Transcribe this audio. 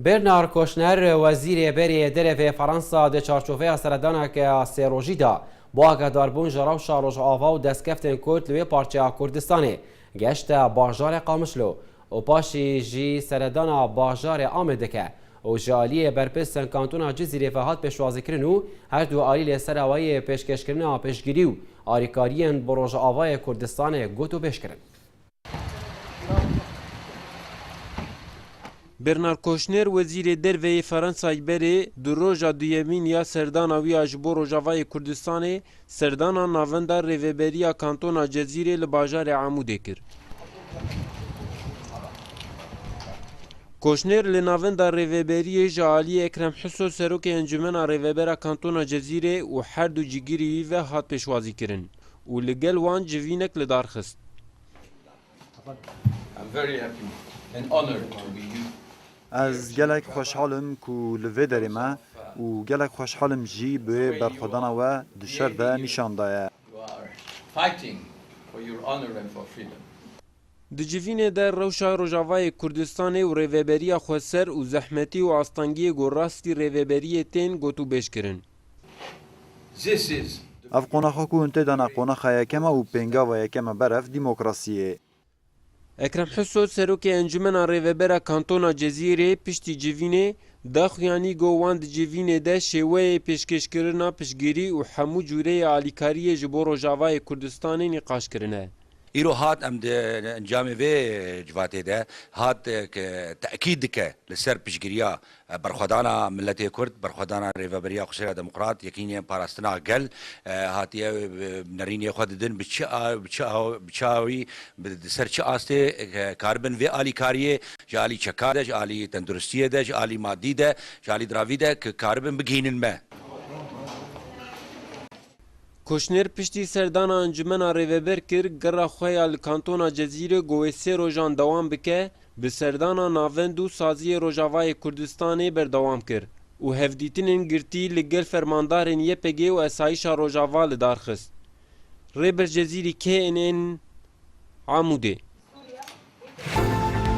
Bernard Kouchner, wezîrê berê yê derevê Fransa di çarçoveya seredaneke sêrojî de bo agahdaribûn ji rewşa Rojava û destkeftên Kurd li wê parçeya Kurdistanê geşte bajarê Qamişlo û paşî jî seredana bajarê Amê dike û ji aliyê berpirsên kantona Cizîrê ve hat pêşwazîkirin û her du alî li ser awayê pêşkêşkirina piştgirî û alîkariyên bi Rojavayê Kurdistanê gotûbêj kirin. Bernard Kouchner, Wezîrê Derve yê Fransayê berê di roja duyemîn ya serdana wî ya ji bo Rojavayê Kurdistanê, serdana navenda Rêveberiya Kantona Cezîrê li bajarê Amûdê kir. Kouchner li navenda Rêveberiyê ji aliyê Ekrem Huso Serokê Encûmena Rêvebera Kantona Cezîrê û her du cîgirî wî ve hat pêşwazîkirin. û li gel wan civînek li dar xist. Ez gelek xweşhal im ku li vê derê me û gelek xweşhal im jî bi wê berxwedana we di şer de nîşan daye. Di civînê de rewşa Rojavayê Kurdistanê û rêveberiya xweser û zehmetî û astengiyê ku rastî rêveberiyê tên got û bêj kirin. Ev qonaxa ku hûn tê de ne qonaxa yekem e û pêngava yekem e ber ev demokrasî yê. Ekrem Huso serokê Encumena Rêvebera Kantona Cezîrê piştî civînê daxuyanî got wan di civînê de şêweyê pêşkêşkirina piştgirî û hemû cûreyê alîkariyê ji bo Rojavayê Kurdistanê nîqaş kirine. Îro hat em di encamê vê civatê de hat ke tekîd dike li ser piştgiriya berxwedana miletê Kurd, berxwedana Rêveberiya Xwesêra Demokrat, Yekînîyên Parastina Gel hatiye nerînê xwe didin bi çi bi çi awî di ser çi astê karibin vê alîkarîyê ji alî çeka de, ji alî tenduristîyê de, ji alî madî de, ji alî diravî de ki karibin bigihînin me. Kûşner piştî serdana Encûmena Rêveber kir gera xwe ya li Kantona Cezîrê ku wê sê rojan dewam bike, bi serdana Navend û Saziyê Rojavayê Kurdistanê berdewam kir û hevdîtinên girtî li gel fermandarên YPG û Esayîşa Rojava li dar xist. Rêber Cezîrî kê in ên Amûdê?